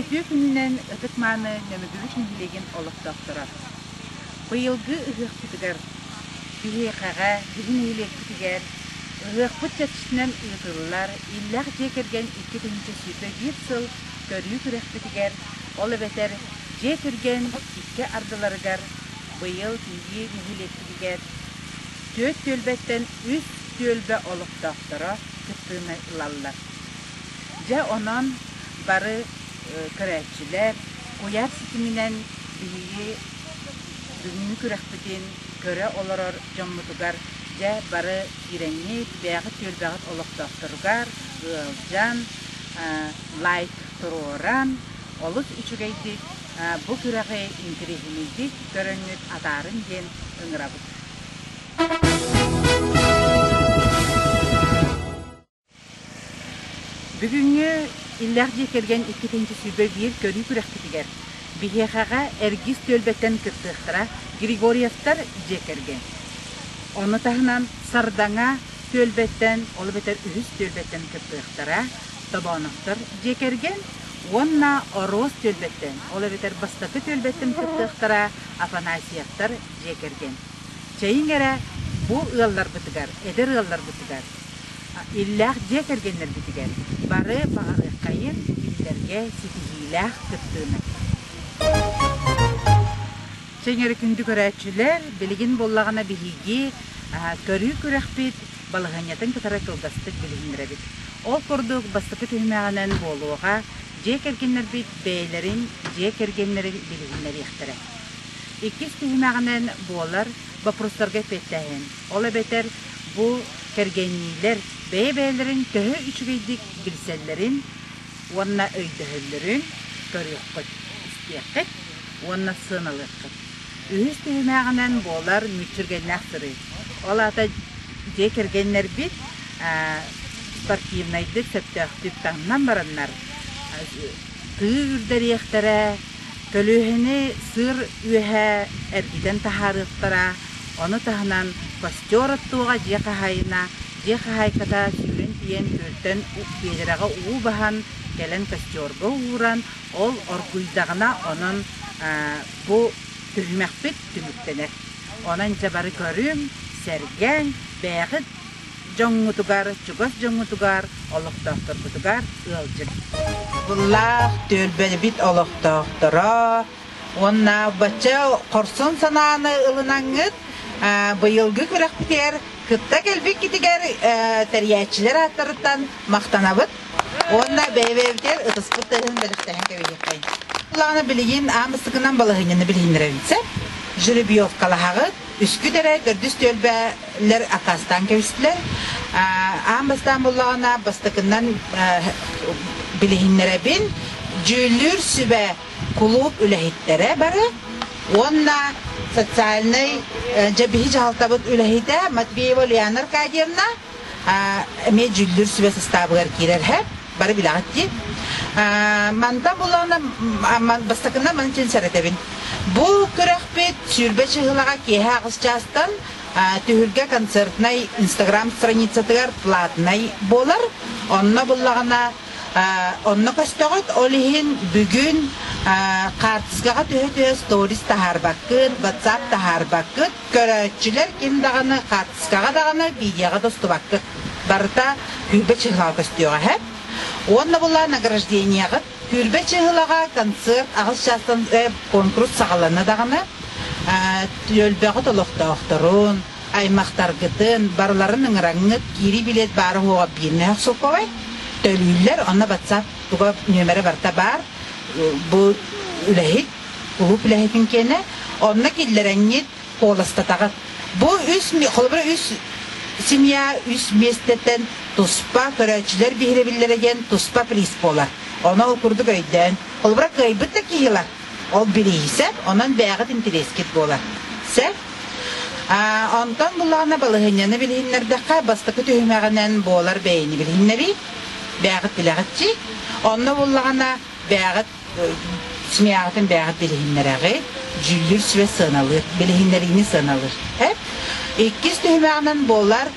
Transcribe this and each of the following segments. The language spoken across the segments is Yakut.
Үтүө күнүнэн ытык-мааны Нөмүгүбүт нэһилиэгин олохтоохторо! Быйылгы ыһыахпытыгар биһиэхэҕэ, биһи нэһилиэкпитигэр ыһыахпыт чэрчитинэн ыытыллар Иллээх дьиэ кэргэн икки тыһыынча сүүрбэ биир сыл көрүү күрэхпитигэр, ол эбэтэр дьиэ түргэн икки ардыларыгар быйыл биһи нэһилиэкпитигэр түөрт түөлбэттэн үс түөлбэ олохтоохторо кыттыыны ылаллар. Дьэ онон бары көрөөччүлэр куйаар ситиминэн биһиги бүгүҥҥү күрэхпитин көрө олорор дьоммутугар дьэ бары киирэҥҥит, бэйэҕит түөлбэҕит олохтоохторугар ыалдьан, лайк туруоран, олус үчүгэйдик бу күрэҕи интэриэһинэйдик көрөҥҥүт, атаарын диэн ыҥырабыт. Бүгүҥҥү иллээх дьиэ кэргэн иккитинчи сүүрбэ биир көрүү күрэхпитигэр биһиэхэҕэ Эргис түөлбэттэн кыттыахтара Григорьевтар дьиэ кэргэн. Ону таһынан Сардаҥа түөлбэттэн, ол эбэтэр үһүс түөлбэттэн кыттыахтара Тобооновтор дьиэ кэргэн уонна Ороос түөлбэттэн, ол эбэтэр бастакы түөлбэттэн кыттыахтара Афанасьевтар дьиэ кэргэн. Чэйиҥ эрэ бу ыалларбытыгар, эдэр ыалларбытыгар Иллээх дьиэ кэргэннэрбитигэр бары баҕарыаххайын кинилэргэ ситиһиилээх кыттыыны! Сэҥэри күндү көрөөччүлэр, билигин буоллаҕына биһиги көрүү-күрэхпит балаһыанньатын кытары кылгастык билиһиннэрэбит. Ол курдук, бастакы түһүмэҕинэн буолуоҕа, дьиэ кэргэннэрбит бэйэлэрин дьиэ кэргэннэрин билиһиннэриэхтэрэ. Иккис түһүмэҕинэн буолар боппуруостарга эппиэттээһин. Ол эбэтэр бу кэргэнниилэр бэйэ-бэйэлэрин төһө үчүгэйдик билсэллэрин уонна өйдөһөллөрүн көрүөххүт, истиэххит уонна сыаналыаххыт. Үһүс түһүмэҕинэн буолар мүччүргэннээх сырыы. Ол аата дьиэ кэргэннэрбит спортивнайдык, сөптөөхтүк таҥнан бараннар, тыы үрдэриэхтэрэ, Көлүөһэни сыыр үөһэ эргитэн таһаарыахтара, ону таһынан костер оттуоҕа дьиэ хаһаайына дьиэ хаһаайката сүүрэн тиийэн күөлтэн биэдэрэҕэ уу баһан кэлэн костерга ууран, ол оргуйдаҕына онон бу түһүмэхпит түмүктэнэр. Онон дьэ бары көрүҥ, сэргээҥ, бэйэҕит дьоҥҥутугар, чугас дьоҥҥутугар, олохтоохторгутугар ыалдьыҥ. Быллаах түөлбэбит олохтоохторо уонна бачча хорсун санааны ылынаҥҥыт быйылгы күрэхпитигэр кытта кэлбиккитигэр тэрийээччилэр ааттарыттан махтанабыт уонна бэйэ-бэйэбитигэр ытыспыт тыаһын бэлэхтэнэн кэбиһиэххин. Былааны билигин аан бастакынан балаһыанньаны билиһиннэрэбит сөп. Жеребьевкалаһаҕыт, Үскүт эрэ төрдүс түөлбэлэр аккаастаан кэбистилэр. Аан бастаан буллаҕына бастакынан билиһиннэрэбин. Дьүүллүүр сүбэ кулууп үлэһиттэрэ бары уонна социальнай дьэбиһи дьаһалтабыт үлэһитэ Матвеева Ульяна Аркадьевна эмиэ дьүүллүүр сүбэ сыстаабыгар киирэр һэ бары билэҕит дии мантан булана бастакына манчын сэрэтэбин бу күрэхпит сүүрбэ чыһылаҕа киэһэ аҕыс чаастан түһүлгэ концертнай инстаграм страницатыгар платнай буолар онно буллаҕына онно көстөҕүт ол иһин бүгүн хаартыскаҕа түһэ түһэ сторис таһаарбаккын ватсап таһаарбаккын Көрөөччүлэр ким даҕаны хаартыскаҕа даҕаны, видеоҕа да устубаккыт. Барыта күүрбэ чыһылаҕа көстүөҕэ эһэт. Уонна була награждениеҕыт. Күүрбэ чыһылаҕа концерт аҕыс чаастан конкурс саҕалана даҕаны, түөлбэҕит олохтоохторун, аймахтаргытын барыларын ыҥыраҥҥыт киирии билет баара уоҕа биирнээх суковай төлүүллэр онно батсаап туга нөмэрэ барыта баар бу үлэһит Уһук үлэһитин киэнэ, онно киллэрэнньит куоластатаҕыт. Бу үс, холобура үс семья үс миэстэтэн туспа көрөөччүлэр биһирэбиллэрэ диэн туспа приз буолар. Ону ол курдук өйдөөн. Холобура, кыайбыт да киһи ылар. Ол бириисэ, онон бэйэҕит интэриэскит буолар. Сэр? Онтон буллаҕына балаһыанньаны билиһиннэрдэххэ, бастакы түһүмэҕинэн буолар бэйэни билиһиннэрии, бэйэҕит билэҕит дии. Онно буллаҕына бэйэҕит Семьяҕытын бэйэҕит билиһиннэрэҕит, дьүүллүүр сүбэ сыаналыыр, билиһиннэриини сыаналыыр. Иккис түһүмэҕинэн буолар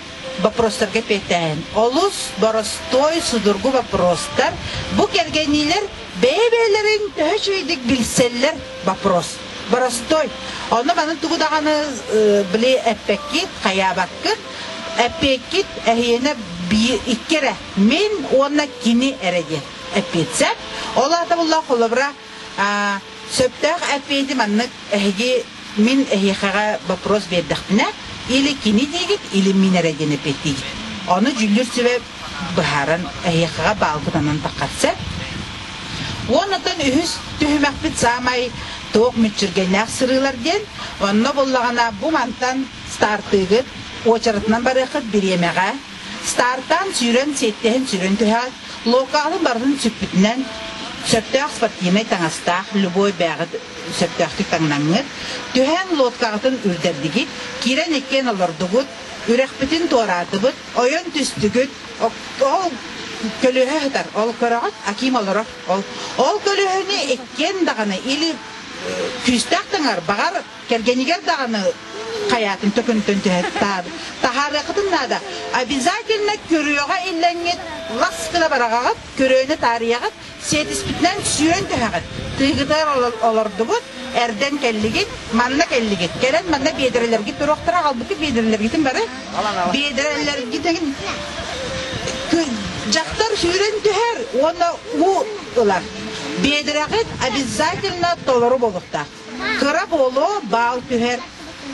боппуруостарга эппиэттэһэн. Олус боростуой судургу боппуруостар бу кэргэниилэр бэйэ-бэйэлэрин төһө үчүгэйдик билсэллэр боппуруос. Боростуой. Онно маны тугу даҕаны били эппэккит, хайаабаккыт, эппиэккит эһиэнэ икки эрэ. Мин уонна кини эрэ диэн. эппиэтсэ. Ол аата булла холобура сөптөөх эппиэти маннык эһиги мин эһиэхэҕэ вопрос биэрдэхпинэ или кини диигит или мин эрэ диэн эппиэттиигит. Ону дьүүллүүр сүбэ быһааран эһиэхэҕэ баалгытанан таххатса. Уоннатан үһүс түһүмэкпит саамай туох мүччүргэннээх сырыылар диэн онно буллаҕына бу мантан стартыыгыт уочаратынан барыаххыт бириэмэҕэ стартаан сүүрэн сиэттэһин сүрүн түһэҕит Локалы барытын сүппүтүнэн сөптөөх спортивнай таҥастаах любой бээҕи сөптөөхтүк таҥнаҥҥыт, түһээн лодкаҕытын үрдэрдигит, киирэн иккиэн олордугут, үрэхпитин туораардыбыт, ойон түстүгүт, ол көлүөһэ сытар, ол көрөҕүт, аким олорор, ол ол көлүөһэни иккиэн даҕаны или күүстээх таҥар, баҕар Кэргэнигэр даҕаны хайаатын төкүнүттэн түһэр. Таһаарыаххытын наада. Обязательно көрүөҕэ иллэҥҥит, лас гына бараҕаҕыт, көрүөнү таарыйаҕыт, сиэтиспитинэн сүөн түһэҕит. Тыыгытыгар олордубут, эрдэн кэллигит, манна кэллигит. Кэлэн манна биэдэрэлэргит туруохтара, аҕалбыккыт биэдэрэлэргитин бары биэдэрэлэргитин дьахтар сүүрэн түһэр уонна уу ылар. Биэдэрэҕит обязательно толору буолуохтаах. Кыра буолуо, баал түһэр.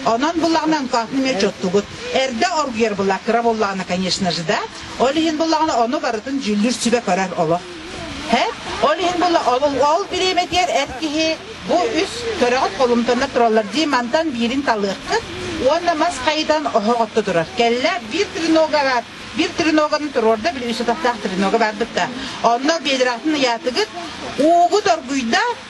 Онон буллаҕынан кофе эмиэ чуттугут. Эрдэ оргуйар была кыра буоллаҕына, конечно же, да. Ол иһин буллаҕына ону барытын дьүүллүүр сүбэ көрөр олох. Һэ? Ол иһин була ол ол бириэмэтигэр эр киһи бу үс төрөҕүт холумтанна тураллар дии мантан биирин талыаххыт уонна мас хайытан оһох отто турар. Кэллэ биир тренога бар. Bir треноганы туруорда, bir үс атахтаах тренога бардык да. Онно бедратын ыйаатыгыт, уугу доргуйда,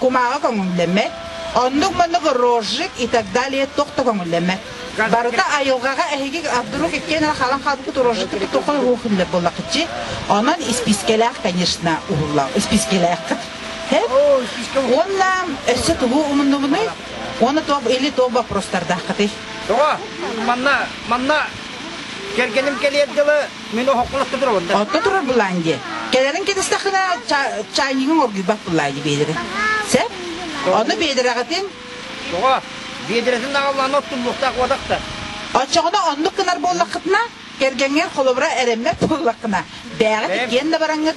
кумааҕы көҥүллэммэт, оннук-маннык рожжик и так далее туох да көҥүллэммэт. Барыта айылҕаҕа эһиги вдруг иккиэн эрэ хаалан хаалбыт рожжикпыт тоқой уохунньа буоллахчы. Онон испискэлээх, конечно, уһулла. Испискэлээххит. Уонна өссө тугу умуннубунуй? Уонна туох или туох боппуруостардааххытый? Тоҕо? Манна манна кэргэним кэлиэр дылы Мен охокколотто турабын да. Отто турар булаан дии. Кэлэрин кэтистэххинэ чайнигын оргуйбат булаан дии биэдэрэ. Сэ? Онно биэдэрэҕитин? Тоҕо? Биэдэрэтин даҕаллаан оттуллуохтаах уотахта. Оччоҕуна оннук гынар буоллаххытына, кэргэҥҥэр холобура эрэммэт буоллаххына, бээҕит иккиэн да бараҥҥыт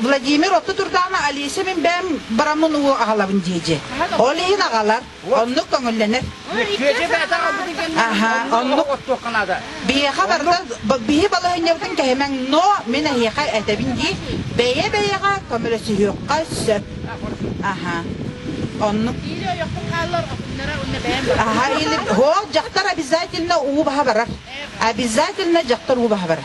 Владимир отто турдаана Олеся мин бэм бараммын уу агалабын дии Ол иһин агалар, оннук көңүллэнер. Аха, оннук. Биһиэхэ барыта биһи балаһынньабытын кэһимэҥ, но мин эһиэхэ этэбин дии, бэйэ-бэйэҕэ көмөлөсүһүөххэ сөп. Аха. Оннук. Аха, или дьахтар обязательно уу баха барар. Обязательно дьахтар уу баха барар.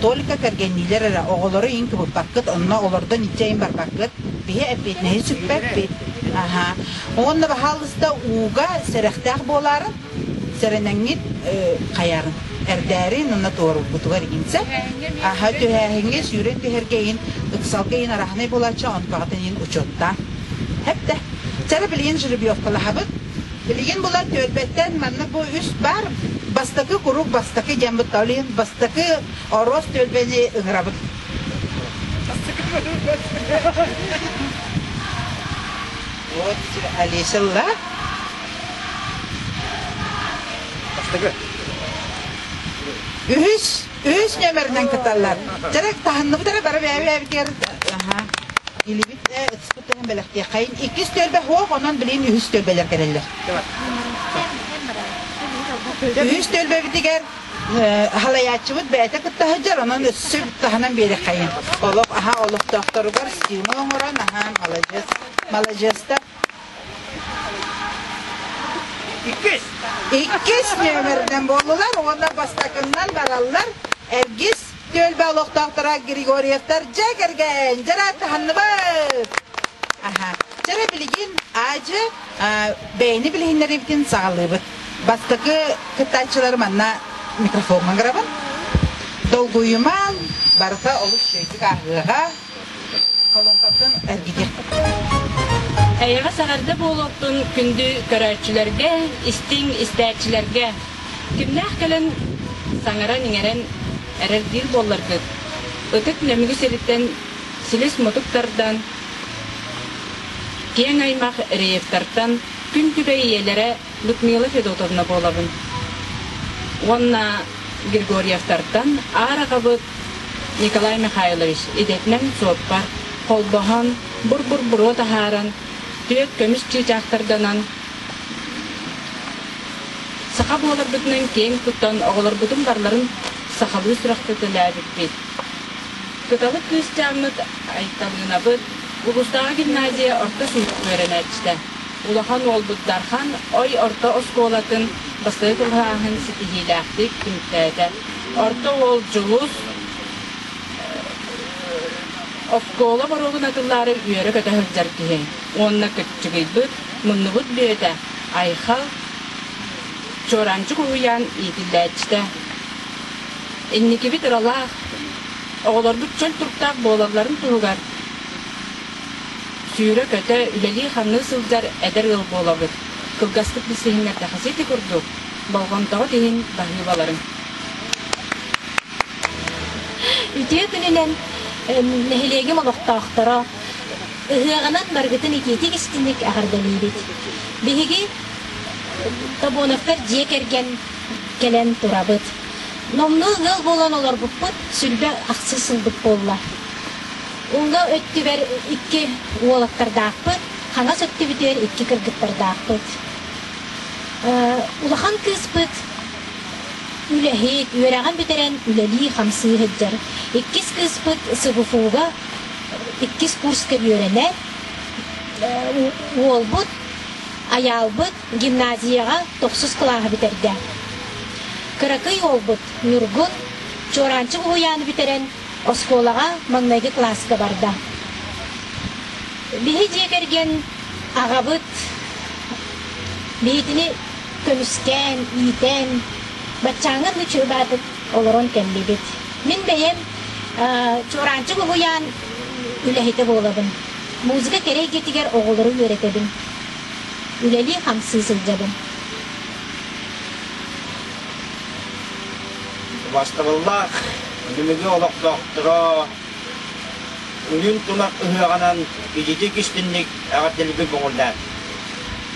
Только кэргэнниилэр эрэ, оҕолору иин кыбыппаккыт, онно олордон илдьэ иин барбаккыт. Биһи эппиэтинэһин сүкпэппит. Аһаа. Уонна баһаалыста ууга сэрэхтээх буолаарыт, сэрэнэҥҥит хайарын эрдээрин уонна туоруурбутугар иинсэ. Аһа түһээһиҥҥэ сүүрэн түһэргэ иин, ыксалга иин араһынай буолааччы, онтоҕотун иин учуоттаан. Хэптэ. Чара билигин жеребьевкалаһабыт. Билигин булан түөлбэттэн манна бу үс баар бастакы куруук бастакы диэн бытталин бастакы ороос түөлбэни ыҥырабыт. Вот Олеся Ла. Бастакы. Үһүс, үһүс нөмеринэн кыталлар. Жарак таһынныбытара бары бэбэбгер. Аха. Илибит. бэлэхтиэххэйин иккис түөлбэ суох онон билин үһүс түөлбэлэр кэлэллэр үһүс түөлбэбитигэр аһалайааччыбыт бэйэтэ кытта сылдьар онон өссө таһынан биэрэххэйин олох аһа олохтоохторугар стимо оҥорон аһаан маладьыас маладьыастар Иккис. Иккис нүөмэринэн буоллулар уонна бастакыннан бараллар Эргис түөлбэ олохтоохторо Григорьевтар дьэ кэргэн дьара таһынныбыт. Аха. Дьара билигин аажы бэйни билиһиннэриибитин саҕалыыбыт. Бастакы кыттааччылары манна микрофоҥҥа гырабын. Долгуйуман барыта олус үчүгэйдик ааһыаҕа. Эйэҕэс эҕэрдэ буолуохтун күндү көрөөччүлэргэ, истиҥ истээччилэргэ. Кимнээх кэлэн саҥаран-иҥэрэн эрэрдиир буолларгыт, ытык нөмүгү сириттэн силис-мутук тардан, киэҥ аймах реевтартан күн күбэй ийэлэрэ Людмила Федотовна буолабын. Уонна Григорьевтартан аар аҕабыт Николай Михайлович идэтинэн суоппар холбоһон, бур-бур-буруо таһааран, түөрт көмүс чыычаахтарданан, саха буоларбытынан киэҥ куттан оҕолорбутун барларын сахалыы сүрэхтэтэлээбиппит. Кыталык кыысчааммыт Айталыынабыт улуустааҕы гимназия орто сүүрүк үөрэнээччитэ. Улахан уолбут Дархан Ой орто оскуолатын бастакы кылааһын ситиһиилээхтик түмтээтэ. Орто уол Дьулус оскуола боруогун атыллаары үөрэ-көтө сылдьар киһи уонна кыччыгыйбыт, муннубут бүөтэ Айхал Чуораанчык уһуйаан иитиллээччитэ. Инникибит ыралаах, оҕолорбут чөл туруктаах буолалларын туһугар Сүүрэ-көтө, үлэлии-хамныы сылдьар эдэр ыал буолабыт. Кылгастык да сиһиҥҥэрдэххэ сити курдук, болҕомтоҕут иһин баһыыбаларым. Үтүө күнүнэн нэһилиэгим олохтоохторо ыһыаҕынан барыгытын икиитик-истиҥник эҕэрдэлиибит. Биһиги Тобоновтар дьиэ кэргэн кэлэн турабыт. Номнуо ыал буолан олорбуппут сүлбэ ахсыс сылбыт буолла. Уҥа өттүбэр икки уолаттардаахпыт, хаҥас өттүбүтүгэр икки кыргыттардаахпыт. Улахан кыыспыт үлэһит, үөрэҕин бүтэрэн үлэлии-хамсыы сылдьар. Иккис кыыспыт СВФУ-га иккис курска үөрэнэр. Уолбут, айаалбыт гимназияҕа тохсус кылааһы бүтэрдэ. Кыракый уолбут Ньургун Чуораанчык уһуйааны бүтэрэн Оскуолаҕа маҥнайгы класска барда. Биһи дьиэ кэргэн аҕабыт биһитини көмүскээн, иитэн, баччааҥҥын ночуйбаатык олорон кэллибит. Мин бэйэм Чуораанчык уһуйаан үлэһитэ буолабын. Музыка кэрэ эйгэтигэр оҕолору үөрэтэбин. Үлэлии-хамсыы сылдьабын. Бастабыллаах Бүлүгү олохтоохторо Үнүн тунах ыһыаҕынан ититик-истинник эҕэрдэлиибин көҥүллээн.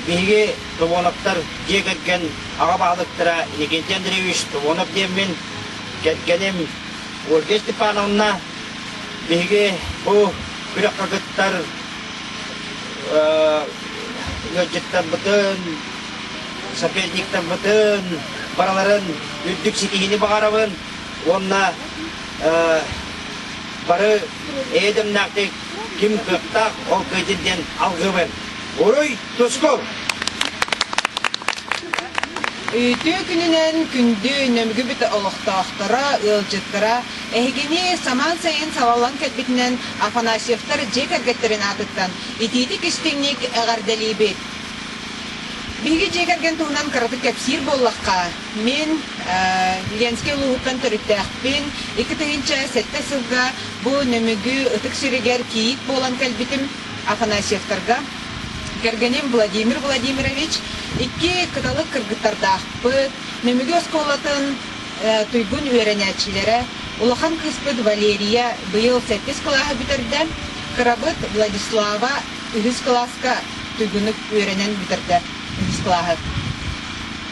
Биһиги Тувоновтар дьиэ кэргэн аҕа баһылыктара Никитин Андреевич Тувонов диэммин, кэргэним Ольга Степановна, биһиги бу күрэх кыргыттар ыалдьыттарбытын, соперниктарбытын барыларын үрдүк ситиһиини баҕарабын. уонна бары эйэдэмнээхтик ким кыттаах ол кыйдин диэн алгыбын уруй тускул Үтүү күнүнэн күндү нөмгүбүт олохтоохторо, ыалдьыттара эһигини самаан сайын салаллан кэлбитинэн Афанасьевтар дьиэ кэргэттэрин аатыттан итиитик-истиҥник эҕэрдэлиибит. Биһиги дьиэ кэргэн туһунан кыратык кэпсиир буоллахха, Мин Ленскэй улууһуттан төрүттээхпин. Икки тыһыынча сэттэ сылга бу Нөмүгү ытык сиригэр кийиит буолан кэлбитим Афанасьевтарга. Кэргэним Владимир Владимирович икки кыталык кыргыттардаахпыт. Нөмүгү оскуолатын туйгун үөрэнээччилэрэ улахан кыыспыт Валерия быйыл сэттис кылааһы бүтэрдэ, кырабыт Владислава үһүс кылааска туйгунук үөрэнэн бүтэрдэ үһүс кылааһы.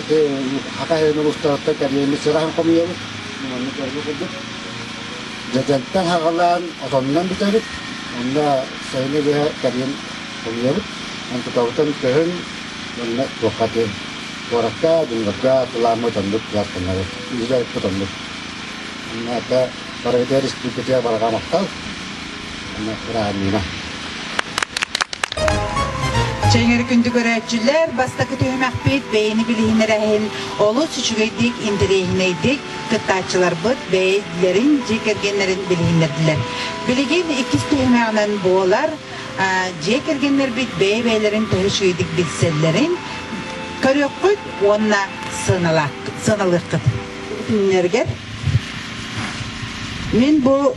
Ити Хатай ойуун улуустарыттан кэлиэни сыраһан хомуйабыт. Манна көрбү курдук. Дьэдьэнтэн хаҕалаан, отонунан бүтэбит. Онно сайыны быһа кэлиэн хомуйабыт. Эн тутабытын көһүн, манна туохха диэн куоракка, дьоннорго атылааммыт оннук дьааттанары үһү отоннук. Манна это Бородия республикатыгар барҕа махтал. Чэҥэр күндү көрөөччүлэр, бастакы түһүмэхпит бэйэни билиһин эрэһин олус үчүгэйдик, интэриэһинэйдик кыттааччыларбыт бэйэлэрин дьиэ кэргэннэрин билиһиннэрдилэр. Билигин иккис түһүмэҕинэн буолар дьиэ кэргэннэрбит бэйэ-бэйэлэрин төһөчүйдик билсэллэрин көрүөххүт уонна сыаналыаххыт. Мин бу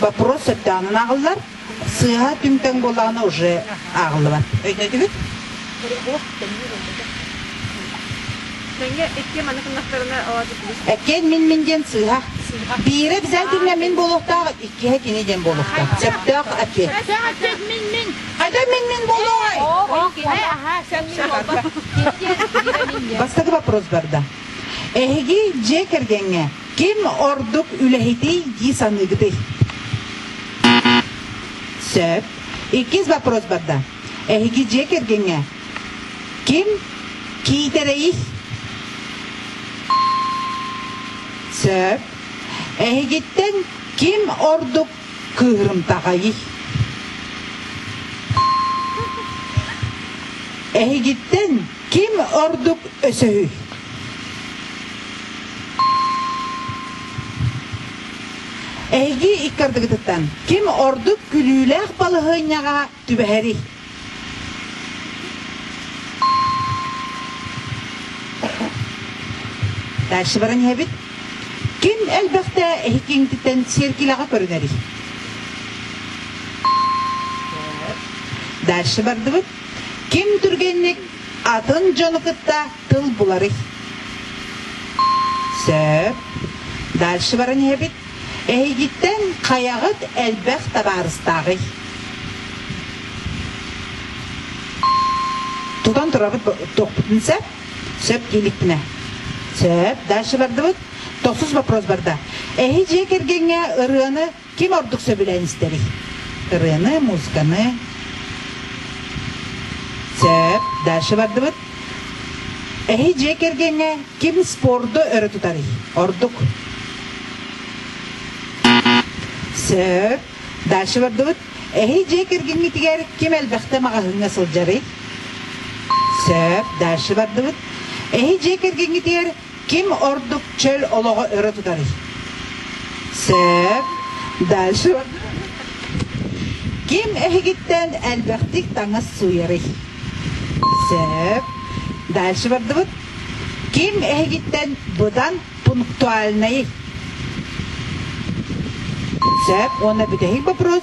вопрос сөптөөхүн ааҕыллар, сыаха түҥтэн буолаҕына уже ааҕыллыбат. Өйдөтүбүт? Мэҥэ икки маны кыннахтарына Эккиэн мин мин диэн сыыһа. Биирэ бизан түннэ мин болуохтаах, иккиһэ кини диэн болуохтаах. Сөптөөх эппиэт. Хадам мин мин. Хадам мин мин болуохай. Иккиһэ аха сен мин болба. Бастакы вопрос барда. Эһиги дьиэ кэргэҥҥэ Ким ордук үлэһитий дии саныыгытый? Сөп. Иккис вопрос барда. Эһиги дьиэ кэргэҥҥэ ким киитэрэйий? Сөп. Эһигиттэн ким ордук кыырымтаҕайый? Эһигиттэн Ким ордук өсөһүй? Эйги икки ардыгытыттан ким ордук күлүүлээх балаһыанньаҕа түбэһэрий? Дальше баран иһэбит. Ким элбэхтэ эһикиҥтиттэн сиэркилэҕэ көрүнэрий? Дальше бардыбыт. Ким түргэнник атын дьону кытта тыл буларый? Сөп. Дальше баран иһэбит. Эһигиттэн хайаҕыт элбэх табаарыстааҕый? Тутан турабыт тохпутун сөп. Сөп дииликпинэ. Сөп. Дальше бардыбыт. Тохсус вопрос барда. Эһи дьиэ кэргэҥҥэ ырыаны Ким ордук сөбүлээн истэрий? Ырыаны, музыканы сөп дальше бардыбыт. Эһи дьиэ кэргэҥҥэ ким спорду өрө тутарый? Ордук. Сөп. Дальше бардыбыт. Эһи дьиэ кэргэҥҥитигэр ким элбэхтэ маҕаһыыҥҥа сылдьарый? Сөп. Дальше бардыбыт. Эһи дьиэ кэргэҥҥитигэр Ким ордук чөл олоҕу өрө тутарый? Сөп. Дальше. Ким эһигиттэн элбэхтик таҥас сууйарый? Сөп. Дальше бардыбыт. Ким эһигиттэн быдан пунктуальный? Сөп. Уонна бүтэһик вопрос.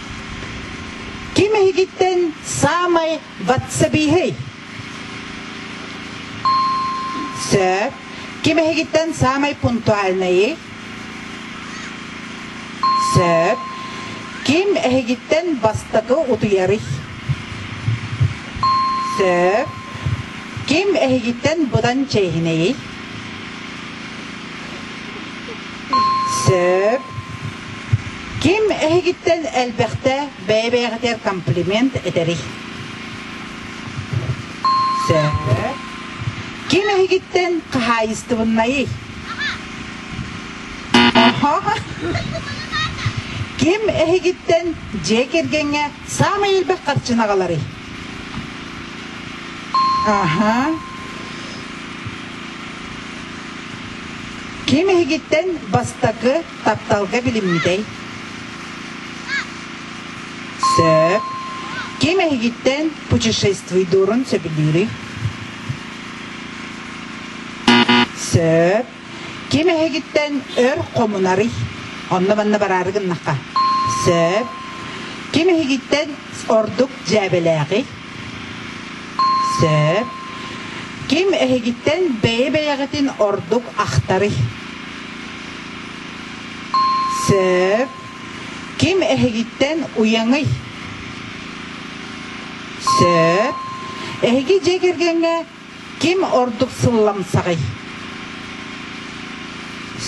Ким эһигиттэн саамай ватсабииһый? Сөп. Ким эһигиттэн саамай пунктуальнайый? Сөп. Ким эһигиттэн бастакы утуйарый? Сөп. Ким эһигиттэн быдан чэйинэйий? Сөп. Ким эһигиттэн элбэхтэ бэйэ-бэйэҕитигэр комплимент этэрий? Сөп. Ким эһигиттэн хаһаайыстыбыннайый? Ким эһигиттэн дьиэ кэргэҥҥэ саамай элбэх харчыны аҕаларый? Аха. Ким иһигиттэн бастакы тапталга билиммитэй? Сөп. Ким эһигиттэн путешествуйдуурун сөбүлүүрүй? Сөп. Ким эһигиттэн өр хомунарый? Онно-манна бараары гыннахха. Сөп. Ким эһигиттэн ордук дьээбэлээҕий? Сөп. Ким эһигиттэн бэйэ-бэйэҕитин ордук ахтарый? Сөп. Ким эһигиттэн уйаҥый? Сөп. Эһиги дьиэ кэргэҥҥэ ким ордук сылламсаҕый?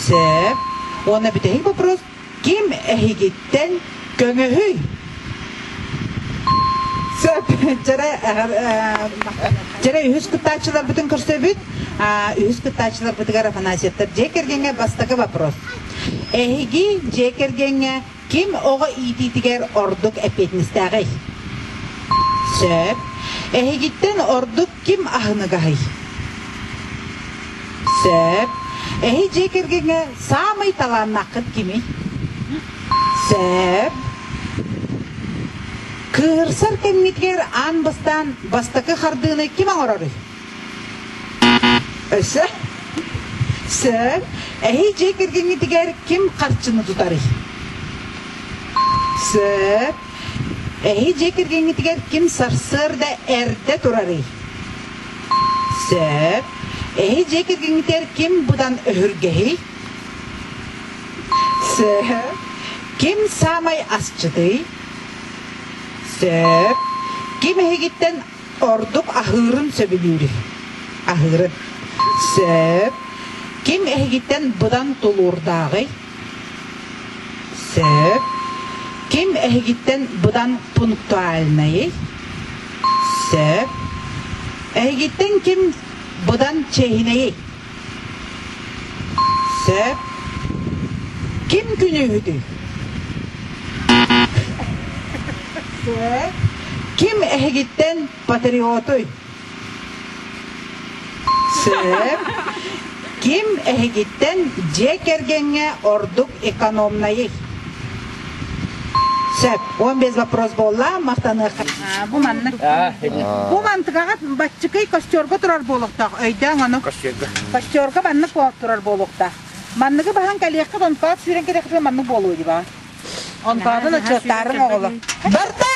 Сөп. Уонна бүтэһик вопрос Ким эһигиттэн көҥөһүй? Вчера үһүс кыттааччыларбытын көрсөбүт. Үһүс кыттааччыларбытыгар Афанасьевтар дьиэ кэргэҥҥэ бастакы вопрос. Эһиги дьиэ кэргэҥҥэ ким оҕо иитиитигэр ордук эппиэтинэстээҕий? Сөп. Эһигиттэн ордук ким аһыныгаһый? Сөп. Эһи дьиэ кэргэҥҥэ саамай талааннааххыт кимий? Сөп. Кыырсар кэмҥитигэр аан бастаан бастакы хардыыны ким оҥороруй? Өссө? Сөп. Эһи дьиэ кэргэҥҥитигэр ким харчыны тутарый? Сөп. Эһи дьиэ кэргэҥҥитигэр ким сарсыарда эрдэ турарый? Сөп. Эһи дьиэ кэргэҥҥитигэр ким быдан өһүргэһий? Сөп. Ким саамай асчытый? Сөп. Ким эһигиттэн ордук аһыырын сөбүлүүр? Аһыырын. Сөп. Ким эһигиттэн быдан тулуурдааҕый? Сөп. Ким эһигиттэн быдан пунктуальнайый? Сөп. Эһигиттэн ким быдан чэһинэйий? Сөп. Ким күнүүһүтүй? Сөп. Ким эһигиттэн Патриоты! Сыыр ким эһигиттэн дьиэ кэргэҥҥэ ордук экономнайый? Сөп. Он без вопрос буолла, махтаныахха. Бу маннык. Бу мантыгаҕа баччыкый костерга турар буолуохтаах. Өйдөөҥ ону. Костерга. Костерга маннык турар буолуохтаах. Манныгы баһан кэлиэххэ, онтон сүүрэн кэлиэххэ маннык буолуо дии баҕа. Онтоонун аччыктаарыҥ оҕолор. Барда!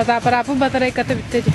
Фотоаппарааппын батарайката бүтте дии.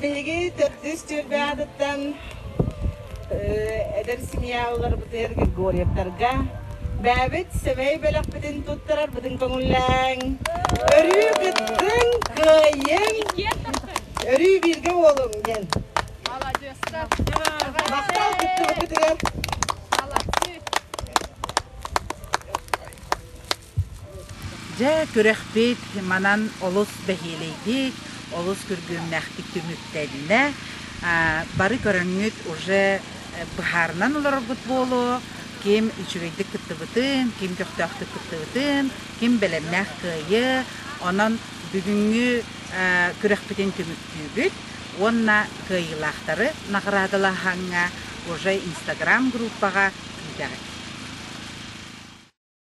Биһиги төрдүс түөлбэ аатыттан эдэр семья уларбытыгар Григорьевтарга бэйэбит сэмэй бөлөхпүтүн туттарарбытын көҥүллээҥ. Өрүү кыттыҥ, кыайыҥ. Өрүү бииргэ уолуҥ диэн. Маладьыастар. Махтал кыттыбыккытыгар. Маладьыыс. Дьэ, күрэхпит манан олус бэһиэлэйдик, олус күргүөмнээхтик түмүктэннэ. Бары көрөҥҥүт уже быһаарынан олороргут буолуо, ким үчүгэйдик кыттыбытын, ким көхтөөхтүк кыттыбытын, ким бэлэмнээх кыайыа. Онон бүгүҥҥү күрэхпитин түмүктүүгүт уонна кыайыылаахтары наҕараадалаһаҥҥа уже инстаграм группаҕа киитэҕит.